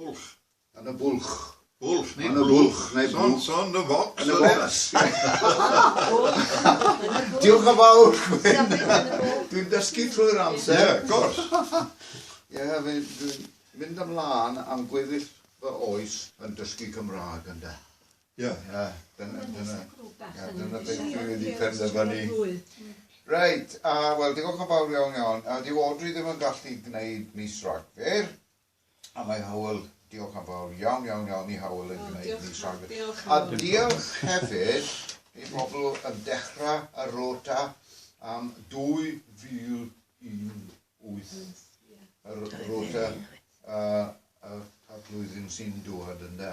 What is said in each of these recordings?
Bwlch. Yn y bwlch. Bwlch neu bwlch. Son, son, yn y focs. Yn y focs. Diolch yn fawr, Gwyn. Dwi'n dysgu trwy'r amser. Ie, of course. Ie, dwi'n mynd ymlaen am gweddill fy oes yn dysgu Cymraeg, ynde. Ie. Ie, dyna, dyna, dyna beth dwi wedi penderfynu. Reit, a wel, diolch yn fawr iawn iawn. A dyw Audrey ddim yn gallu gwneud mis Rhagfyr. A mae Hywel, diolch yn fawr iawn, iawn, iawn i Hywel yn gwneud ni safon. A diolch hefyd i bobl yn dechrau y rota am 2018, y rota y flwyddyn sy'n dod, ynde.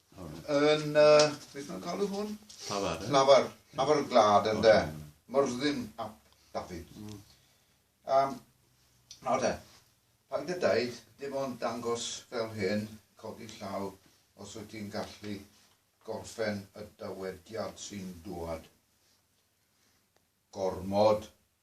Yn, uh, beth mae'n cael hwn? Lafar. Lafar. Lafar y glad yn de. Myrddin ap Dafydd. Mm. Um, nawr de, paid y daid, dim ond dangos fel hyn, codi llaw, os wyt ti'n gallu gorffen y dywediad sy'n dwad. Gormod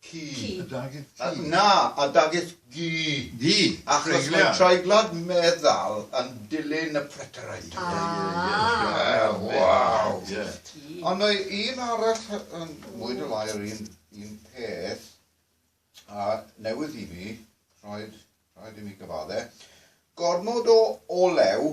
Ci. Ci. A dagith ci. A, na, a dagith gi. Gi. Achos mae treiglad meddal yn dilyn y preteraid. A. Ie, ie, ie. Waw. A dagith ci. Ond mae un arall yn mwy neu lai yr un, un peth, a newydd i mi, rhaid, rhaid i mi gyfadde, gormod o olew,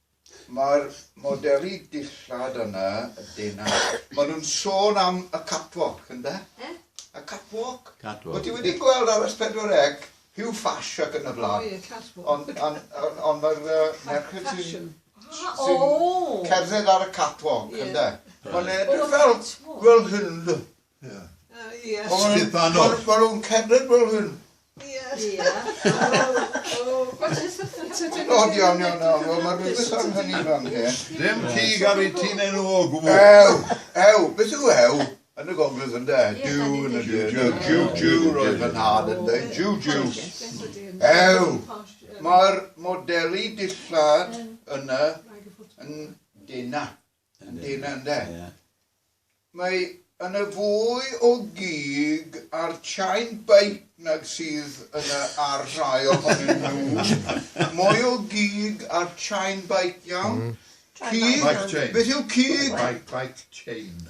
Mae'r modelu dillad yna, dyna. Maen nhw'n sôn am y catwalk, ynddo? Eh? Y catwalk. Catwalk. Wyt ti wedi gweld ar S4C, Hugh Fash ac yn y blaen? Ie, catwalk. Ond on, on, on mae'r uh, merched sy'n sy cerdded ar y catwalk, yeah. ynddo? Mae'n edrych fel, fel hyn, Ie. Sgubbanwch. Maen nhw'n cerdded fel hyn. Ie. Ie. O, diawl, diawl, diawl. Mae rhywbeth am hynny fan hyn. Ddim cig ar ei tîn enw o gwbl. Ew, ew. Beth yw ew? Yn y gogledd ynde? Jiw yn y jiw. Jiw, jiw, jiw. Roedd fy nhad yn dweud jiw, jiw. Ew. Mae'r modelu dillad yna yn denau. Yn dyn ynde? Ie. Mae yn y fwy o gig ar chain beic nag sydd yn y ar rhai ohonyn nhw. Mwy o gig ar chain beic iawn? Cig? Beth yw cig? Bike chain.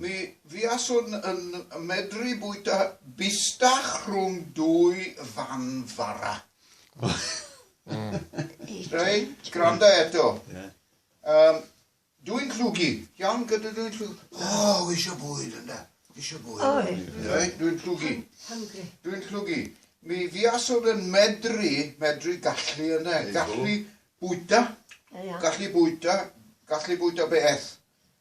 Mi fuaswn yn medru bwyta bistach rhwng dwy fan fara. Reit, gwranda eto. Um, dwi'n llwgu. Iawn, gyda dwi'n llwgu. O, oh, eisiau bwyd yna. Eisiau bwyd. Oi. Reit, dwi'n llwgu. Hungry. Dwi'n llwgu. Mi fuaswn yn medru, medru gallu yna. Gallu bwyta. Gallu bwyta. Gallu bwyta beth.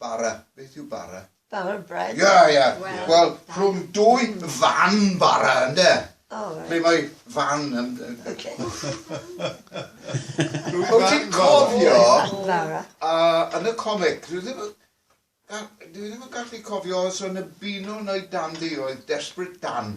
Bara. Beth yw bara? Bara bread. Ie, ie. Wel, rhwng dwy fan bara, ynde? O, reit. Ble mae fan yn... Ocê. Wyt ti'n cofio... Fan bara. ...yn y comic, dwi ddim yn... dwi ddim yn gallu cofio os oedd 'na Beano neu Dandy oedd Desperate Dan.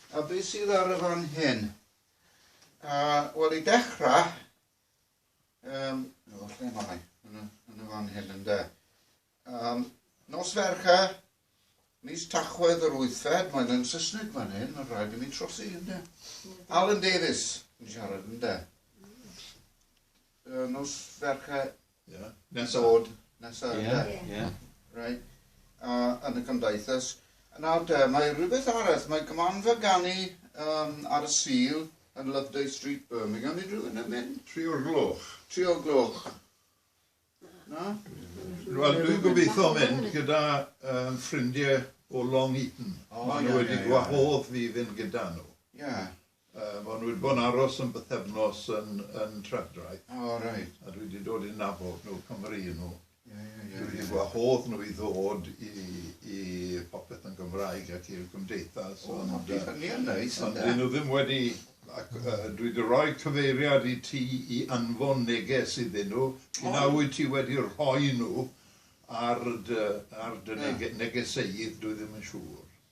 A be sydd ar y fan hyn? Uh, Wel, i dechrau, um, o, lle mae? Yn y, yn y fan hyn, ynddo. Um, nos fercha, mis Tachwedd yr wythfed, mae'n yn Saesneg fan hyn, mae'n rhaid i mi trosi, ynddo. Alan Davis yn siarad, ynddo. Uh, nos fercha Ie. Nesa. Bod nesa ynde? Ie. Ie. Reit. A yn y cymdaithas. Nawr te, mae rhywbeth arall, mae gymanfa ganu um, ar y Sul yn Loveday Street, Birmingham. Ydy rhywun yn mynd? Tri o'r gloch. Tri o'r gloch. Na? Wel, dwi'n gobeithio mynd gyda um, ffrindiau o Long Eaton. Oh, Maen nhw wedi gwahodd fi fynd gyda nhw. Ie. Yeah. Yy, ma' nhw wedi bod yn aros am bythefnos yn yn Trefdraeth. O reit. A dwi wedi dod i nabod nhw, Cymry y' nhw. Ie, ie, ie, ie. Dwi wedi gwahodd nhw i ddod i i Popeth yn Gymraeg ac i'r Gymdeithas ond yy... O ma' petha mîl neis ynde? ...ond 'dyn nhw ddim wedi ac yy dwi 'di roi cyfeiriad i ti i anfon neges iddyn nhw. O! P'un-a wyt ti wedi rhoi nhw ar dy ar dy nege- negeseydd dwi ddim yn siŵr.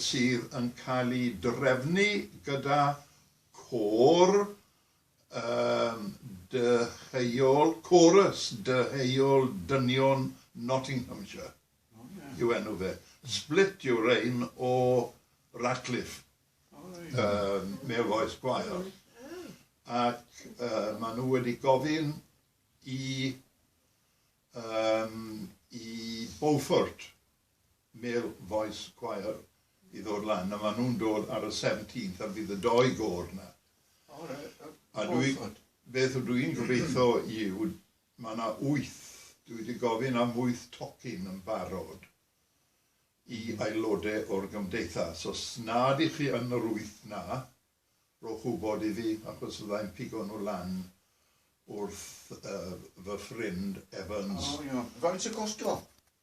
sydd yn cael ei drefnu gyda côr dyheuol, chorus dyheuol dynion Nottinghamshire yw enw fe. Split yw'r rhein o Ratcliffe, Male Voice Choir, ac maen nhw wedi gofyn i Beaufort Male Voice Choir i ddod lan a ma nhw'n dod ar y seventeenth a fydd y doi gôr na. O reit, a dwi, beth o dwi'n gobeitho yw, ma na wyth, dwi di gofyn am wyth tocyn yn barod i aelode o'r gymdeithas, os na dych chi yn yr wyth na, rhowch wbod i fi achos fydda i'n pigo nhw lan wrth yy fy ffrind Evans. O iawn, faint y costo?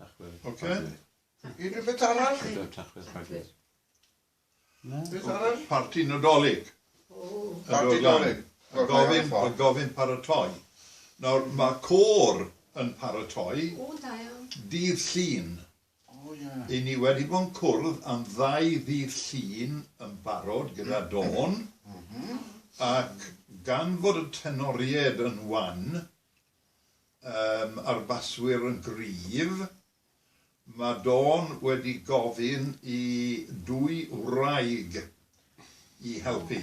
Tachwedd. Ocê. Unrhyw beth arall? Tachwedd, tachwedd, tachwedd. Beth arall? Parti Nadolig. Parti Nadolig. Mae gofyn, mae gofyn paratoi. Nawr, mae côr yn paratoi. O, da iawn. Dydd Llun. O, ie. I ni wedi bod yn cwrdd am ddau ddydd Llun yn barod gyda Dawn. Mhm. Ac gan fod y tenoriaid yn wan, yym a'r baswyr yn gryf. Mae Dawn wedi gofyn i dwy wraig i helpu.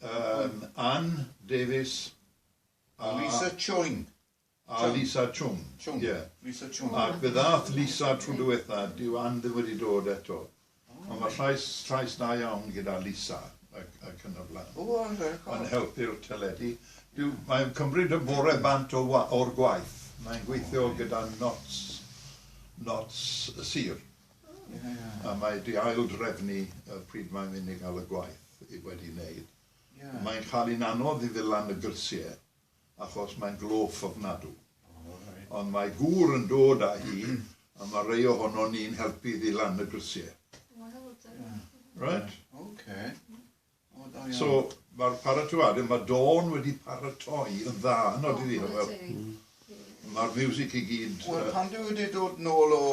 Yym, Ann Davies a... A Lisa Chung. A Lisa Chung. Chung. Ie. Lisa Chung. Ac fe ddaeth Lisa tro diwetha, dyw Ann ddim wedi dod eto. Ond mae llais, llais da iawn gyda Lisa ac yn y blaen. O, reit. Yn helpu'r teledu. Dw, mae'n cymryd y bore bant o wa, o'r gwaith. Mae'n gweithio gyda Notts, Notts y Sir. Yeah. A mae di ail drefnu y pryd mae'n mynd i gael y gwaith i wedi wneud. Yeah. Mae'n cael hi'n anodd i ddil lan y grisiau. achos mae'n glôff ofnadw. Ond mae gŵr yn dod â hi a mae rhai ohonon ni'n helpu iddi lan y grisiau. Right? Okay. So, mae'r paratoad, mae Dawn wedi paratoi yn dda, yn oed iddi, wel, mae'r music i gyd... Wel, pan dwi wedi dod nôl o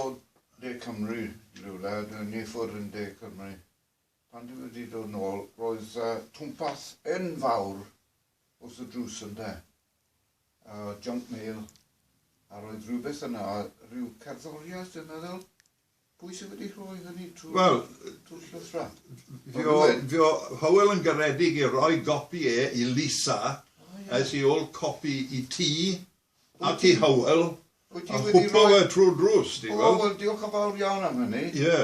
De Cymru, rhywle, dwi'n ni ffwrdd yn De Cymru. Pan dwi wedi dod nôl, roedd yy twmpath enfawr wrth y drws ynde? A junk mail, a roedd rhywbeth yna, rhyw cerddoriaeth dwi'n meddwl? Pwy sydd wedi rhoi hynny trwy'r Wel, trwy'r llythrau? Fi o, fi o Hywel yn garedig i roi gopi e i Lisa, es i ôl copi i ti ac i Hywel, a chwpla fe trwy'r drws, ti'n gweld? O, wel, diolch yn fawr iawn am hynny. Ie.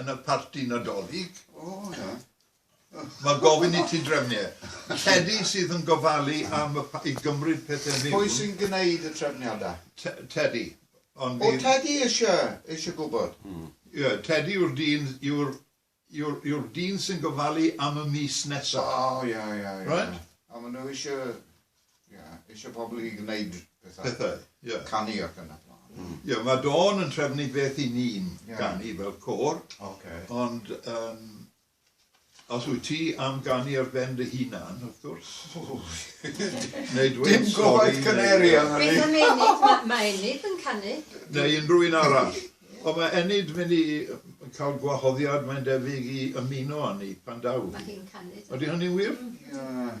yn y parti Nadolig, mae gofyn i ti drefnu e. Tedi sydd yn gofalu am y pa- i gymryd pethau mewn. Pwy sy'n gwneud y trefniadau? T- Tedi. Ond bydd... O, Tedi eisiau, eisiau gwybod. Ie, Tedi yw'r dyn, yw'r, yw'r, yw'r dyn sy'n gofalu am y mis nesaf. O, ie, ie, ie. Right? A maen nhw eisiau Ie, eisiau pobl i wneud pethau. Pethau, ie. Canu ac yn y blaen. Mm. Ie, mae Dawn yn trefnu beth i ni'n yeah. ganu fel cor. Okay. Ond um, os wyt ti am ganu ar ben dy hunan, wrth gwrs. Neu dweud Dim gofod caneri am hynny. Beth am Enid? Mae ma Enid yn canu. Neu unrhyw un arall. Ond mae Enid mynd i cael gwahoddiad, mae'n debyg, i ymuno â ni pan daw. Mae hi'n canu. Ydy hynny'n wir? Mm. Yeah.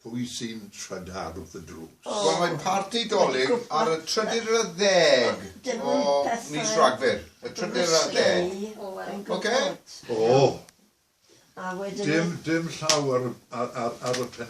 Pwy sy'n trydar wrth y drws? Wel mae'n parti Dolig ar y trydydd ar ddeg o mis Rhagfyr. Y trydydd ar ddeg. Ocê? O! Dim llaw ar y penna'.